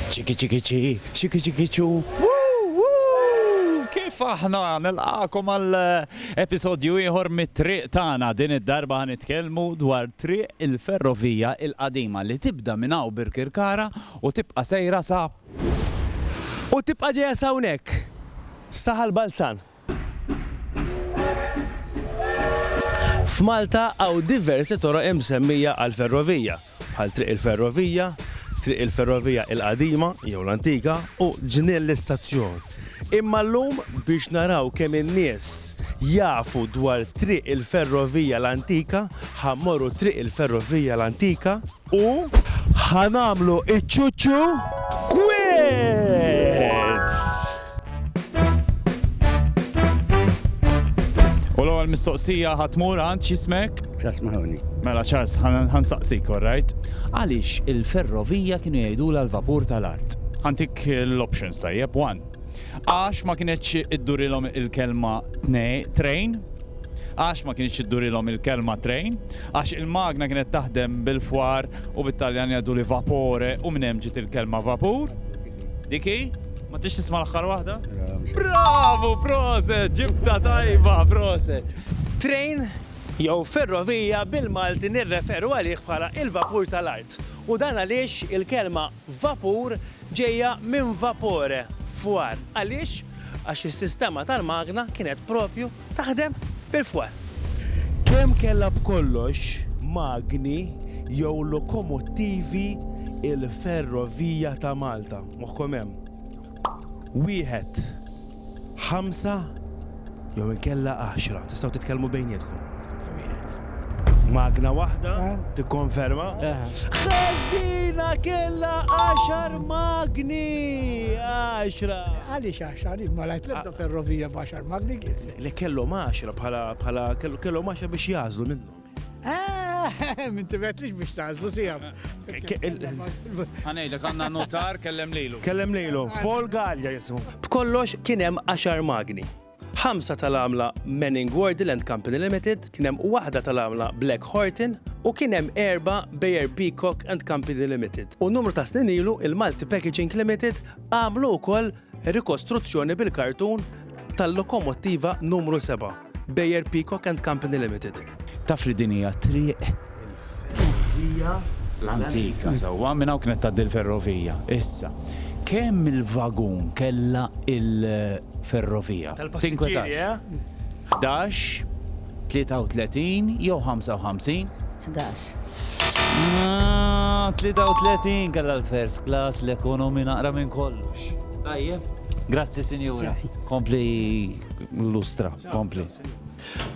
Ċiki ċiki ċi, ċiki ċiki ċu, kif aħna nilqakom għal episodju ieħor mit-triq tagħna din id-darba ħanitkellmu dwar triq il-ferrovija il-qadima li tibda minn hawn Birkirkara u tibqa' sejra sa u tibqa' ġejja sawnek saħal Balzan. F'Malta hawn diversi toroq imsemmija għall-ferrovija, bħal Triq il-Ferrovija, Triq il-Ferrovija il-Qadima jew l-Antika u Ġnien l-Istazzjon. Imma llum biex naraw kemm in-nies jafu dwar Triq il-Ferrovija l-Antika ħa mmorru Triq il-Ferrovija l-Antika, U ħa nagħmlu iċ-ċuċċu kwiz! U l-ewwel mistoqsija ħa tmur għand x'ismek? Charles Mahoney. Mela Charles, ħa nsaqsik, all right? Għaliex il-ferrovija kienu jgħidulha l-vapur tal-art? Ħantik l-options tajjeb, one. Għax ma kinetx iddurilhom il-kelma train, għax ma kienx iddurilhom il-kelma train, għax il-magna kienet taħdem bil-fwar u bit-Taljan jgħidu li vapore u minn hemm ġiet il-kelma vapur. Diki, ma tix tisma' l-aħħar waħda? Bravu, proset, ġibta tajba, proset. Train jew ferrovija bil-Malti nirreferu għalih bħala il-vapur tal-art u dan għaliex il-kelma Vapur ġejja minn vapore, fwar. Għaliex? Għax is-sistema tal-magna kienet propju taħdem bil-fwar. Kemm kellha b'kollox magni jew lokomottivi l-Ferrovija ta' Malta? Moħħkom hemm. Wieħed. Ħamsa jew inkella għaxra, tistgħu titkellmu bejnietkom. Magna waħda, eh. tikkonferma. Eh. Ħażina kella għaxar magni! Għaxra! Għaliex għaxra, li ma lajt lebda ah. ferrovija b'għaxar magni kif? Li kellhom għaxra bħala kellhom għaxra biex jażlu minnu. Ah, Min tibetlix biex tażlu sijab. Għanejlek għanna notar kellem lilu. Kellem lilu, Paul Gallia jismu. B'kollox kien hemm 10 magni. Ħamsa tal-għamla Manning Wardle and Company Limited, kien hemm waħda tal-għamla Black Horton u kien hemm erba Bayer Peacock and Company Limited. U numru ta' snin ilu il-Malti Packaging Limited għamlu wkoll Rikostruzzjoni bil-kartun tal-lokomottiva numru seba', Beyer Peacock and Company Limited. Taf li din hija triq il-ferrovija l-antika sewwa, minn hawn kienet tgħaddi l-ferrovija. Issa, kemm il-vagun kellha l-ferrovija? Tinkwetax? Ħdax, tlieta u tletin jew ħamsa u ħamsin? Ħdax. Aah, tlieta u tletin kellha l-first class, l-ekonomi naqra minn kollox. Tajjeb. Grazzi, sinjura. Kompli lustra, kompli.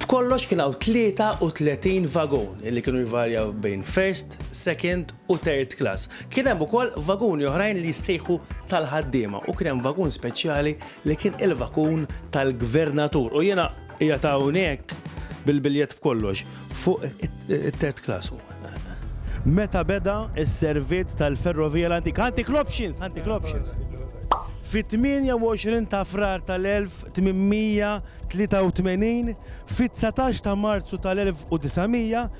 B'kollox kien hawn tlieta u tletin vagun li kienu jvarjaw bejn first, second u third class. Kien hemm ukoll vaguni oħrajn li jissejħu tal-ħaddiema u kien hemm vagun speċjali li kien il-vakun tal-gvernatur u jiena qiegħed hawnhekk bil-biljett b'kollox fuq it-third class. Meta beda s-servizz tal-ferrovija l-antika, antical options, antical options. Fit-28 ta' Frar tal-1883, fit-19 ta' Marzu tal-1900,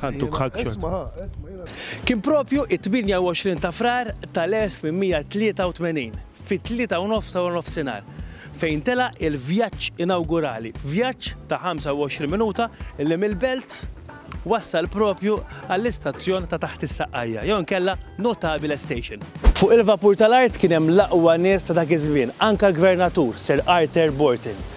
Ħadtuk hugshot. Kien proprju it-28 ta' Frar tal-1883, fit-tlieta u nofs ta' waranofsinhar, fejn tela' il-vjaġġ inawgurali, vjaġġ ta' 25 minuta li mill-Belt wassal proprju għall-istazzjon ta' taħt is-Saqqajja, jew inkella Notabile Station. Fuq il-vapur tal-art kien hemm l-aqwa nies ta' dak iż-żmien, anke l-Gvernatur, Sir Arthur Borton,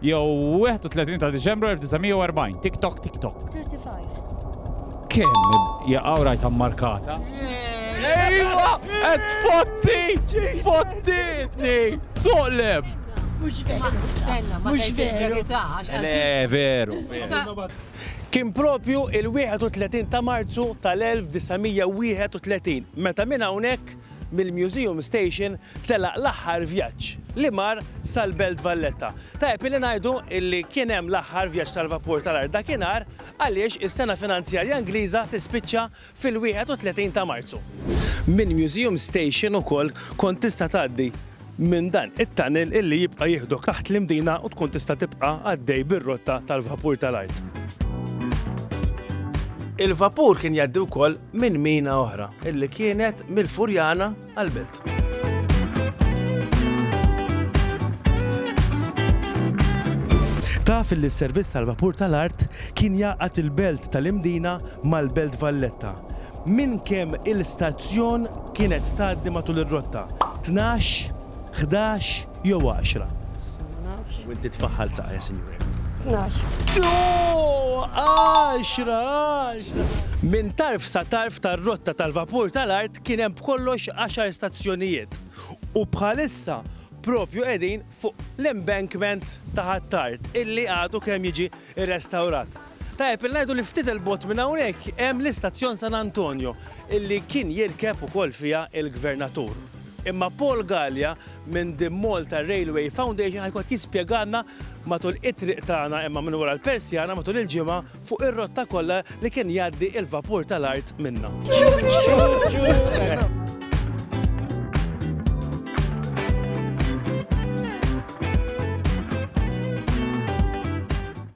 Jew 31 ta' Diċembru 1940. Tik tok, tik tok. 35. Kemm jaqgħu rajtha mmarkata? Ejwa! Qed fotti! Fottitni! Soqleb! Mhux veru. Stenna, ma Mhux tgħidx veru. il-verità għax Le, għalti- veru. Issa, Kien propju il-31 ta' Marzu tal-1931 meta minn hawnhekk mill-Museum Station telaq l-aħħar vjaġġ li mar sal-Belt Valletta. Tajjeb illi ngħidu illi kien hemm l-aħħar vjaġġ tal-vapur tal-art dakinhar għaliex is-sena finanzjarja Ingliża tispiċċa fil-31 ta' Marzu. Mill-Museum Station ukoll kont tista' tgħaddi minn dan it-tunnel illi jibqa' jieħdok taħt l-Imdina u tkun tista' tibqa' għaddej bir-rotta tal-vapur tal-art. Il-vapur kien jgħaddi wkoll minn mina oħra illi kienet mill-Furjana għall-Belt. Taf illi s-servizz tal-vapur tal-art kien jgħaqqad il-Belt tal-Imdina mal-Belt Valletta minn kemm il-stazzjon kienet tgħaddi matul ir-rotta, tnax, ħdax jew għaxra? Ma nafx. U inti tfaħħal saqajja, Sinjura. Tnax. Ooh! Għaxra, għaxra! Minn tarf sa tarf tar-rotta tal-vapur tal-art kien hemm b'kollox għaxar stazzjonijiet. U bħalissa proprju qegħdin fuq l-embankment ta' Ħ'Attard illi għadu kemm jiġi irrestawrat. Tajjeb li ngħidu li ftit 'il bogħod minn hawnhekk hemm l-istazzjon San Antonio illi kien jirkeb ukoll fiha l-Gvernatur. Imma Paul Galea minn The Malta Railway Foundation ħajkun qed jispjegalna matul it-triq tagħna imma minn wara l-persjana matul il-ġimgħa fuq ir-rotta kollha li kien jgħaddi l-vapur tal-art minnha.